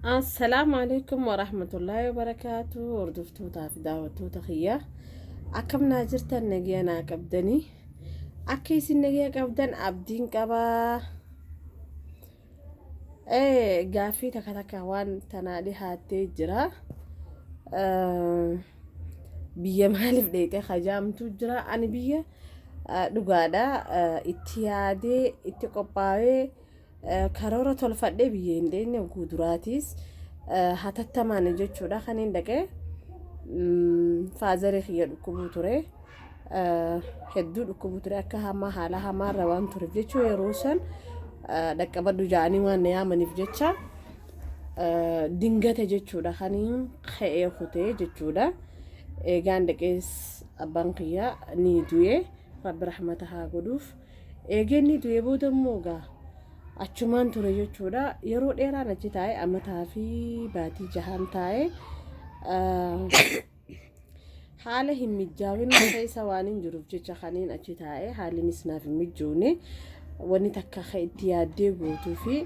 Assalaamu alaikum warahmatullaahi wabarakaatu hordoftoota fi daawwattoota kiyyaa akkam naa jirtan nagiya naa qabdanii akka isin nagiya qabdan abdiin qabaa Eh, gaaffii takka takka waan tanaa dhihaattee jira. Eh, biyya maaliif dheeyxee hajaamtu jira. Ani biyya eh, dhugaadha eh, itti yaadee, itti qophaa'ee, eh, karoora tolfadhee biyya hin dheenye oguu duraatiis eh, hatattamaan jechuudha kan hin dhaqee. Mm, Faazaree kiyya dhukkubuu ture. hedduu dhukkubu ture akka hamaa haala hamaarra waan tureef jechuun yeroo san dhaqqabadhu ja'anii waan na yaamaniif jecha dingate jechuudha kan ka'ee kutee jechuudha eegaan dhaqees abbaan kiyyaa ni du'e rabbi rahmata haa godhuuf eegeen ni du'e booda immoo gaa achumaan ture jechuudha yeroo dheeraan achi taa'e amataa fi baatii jahaan taa'e. haala hin mijjaawin keessa waan hin jiruuf jecha kaniin achi taa'e haalinis naaf hin mijjoone wanni takka ka itti yaaddee guutuu fi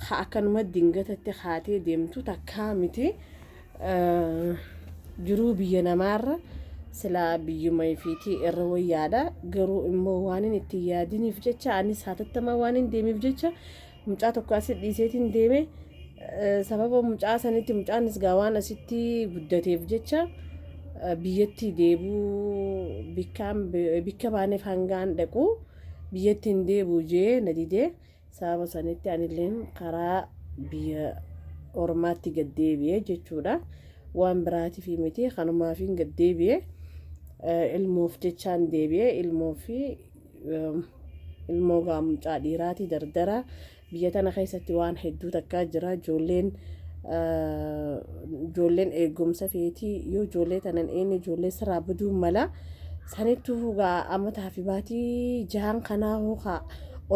ka akkanuma dingatatti kaatee deemtu takkaa miti jiruu biyya namaarra silaa biyyuma ifiitii irra wayyaadha garuu immoo waan hin itti yaadiniif jecha anis haatattamaa waan hin deemiif jecha Mucaa tokko asi dhiiseetiin deeme sababa mucaa sanitti mucaanis gaa waan asitti guddateef jecha biyyatti deebuu bikka baaneef hangaan dhaqu biyyatti hin deebuu jee na didee sababa sanitti anilleen karaa biyya ormaatti gad deebi'e jechuudha waan biraatiif miti kanumaafiin gad deebi'e ilmoof jechaan deebi'e ilmoo fi ilmoo gaa mucaa dhiiraati dardara biyya tana keessatti waan hedduu takkaa jira ijoolleen ijoolleen eegumsa feetii yoo ijoollee tanan eenne ijoollee sirraa baduu mala sanittuu gaa amataa fi baatii jahan kanaa hookaa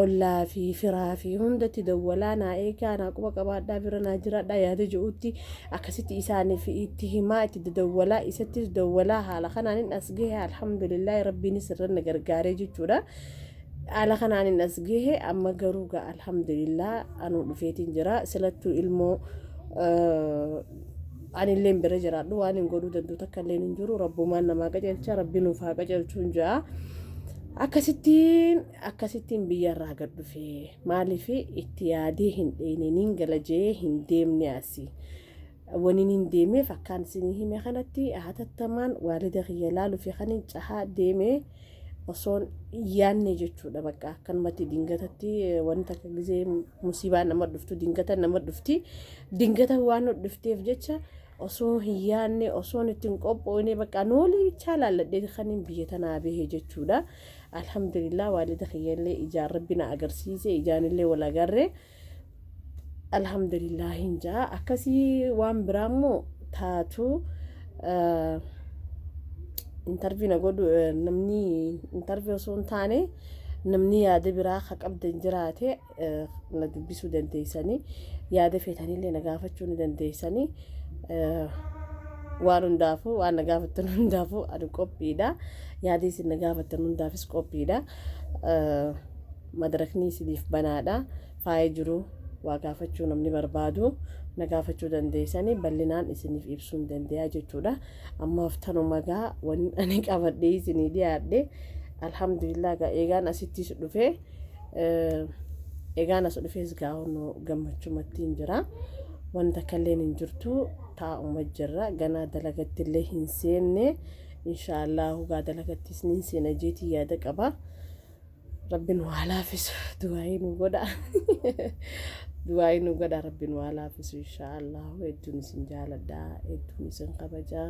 ollaa fi firaa fi hundatti dawwalaa naa eegaa naa quba qabaadhaa bira naa jiraadhaa yaada je'uutti Akkasitti isaaniif itti himaa itti dadawwalaa isattis dawwalaa haala kanaanin as gahe alhamdulillaahi rabbiinis irran na gargaaree jechuudha haala kanaanin as gahe amma garuu gaa alhamdulillah anuu dhufeetiin jira silattuu ilmoo anilleen bira jiraadhu waan hin godhuu danduu takka illeen hin jiru rabbumaan namaa qajeelcha rabbi nuuf haa qajeelchuun ja'a akkasittiin Akkasittiin biyyarraa gad dhufe. Maaliif itti yaadee hin dheeyne niin gala je'ee hin deemne asi. Waniin hin deemeef akkaan isinii hime kanatti hatattamaan waalida kiyya laaluufi kanin cahaa deeme osoon yaanne jechuudha bakka akkanumatti dingatatti wanta akka gizee musiibaa nama dhuftu dingata nama dhufti dingata waan dhufteef jecha osoo hin yaanne osoon ittiin qophoone bakka noolii bichaa laalladhee kanin biyya tanaa bahe jechuudha. Alhamdulillah waalida kiyya illee ijaan rabbi na agarsiise ijaan illee wal agarre alhamdulillah hin jaa akkasii waan biraa immoo taatu intarvii na godhu namni intarvii osoo hin taane namni yaada biraa ka qabdan jiraate na dubbisuu dandeessanii yaada feetanillee na gaafachuu ni dandeessanii waan hundaafuu waan na gaafattan hundaafuu ani qophiidha yaada isin na gaafattan hundaafis qophiidha madarakni isiniif banaadha faaya jiru waa gaafachuu namni barbaadu na gaafachuu dandeessanii bal'inaan isiniif ibsuu hin dandeeyaa jechuudha ammaaf tanuma gaa wanni ani qabadhee isinii dhiyaadhe alhamdulillah gaa eegaan asittis dhufee Egaan as dhufees gaa'onoo gammachumattiin jira. Wanta kalleen hin jirtu taa'uma jirra. Ganaa dalagatti illee hin seenne. Inshaallah hugaa dalagattis ni seena jeetii yaada qaba. Rabbi nu haa laafisu. Du'aayii nu godha. Du'aayii nu godha rabbi nu haa laafisu inshaallah. Hedduun isin jaaladha. Hedduun isin kabajaa.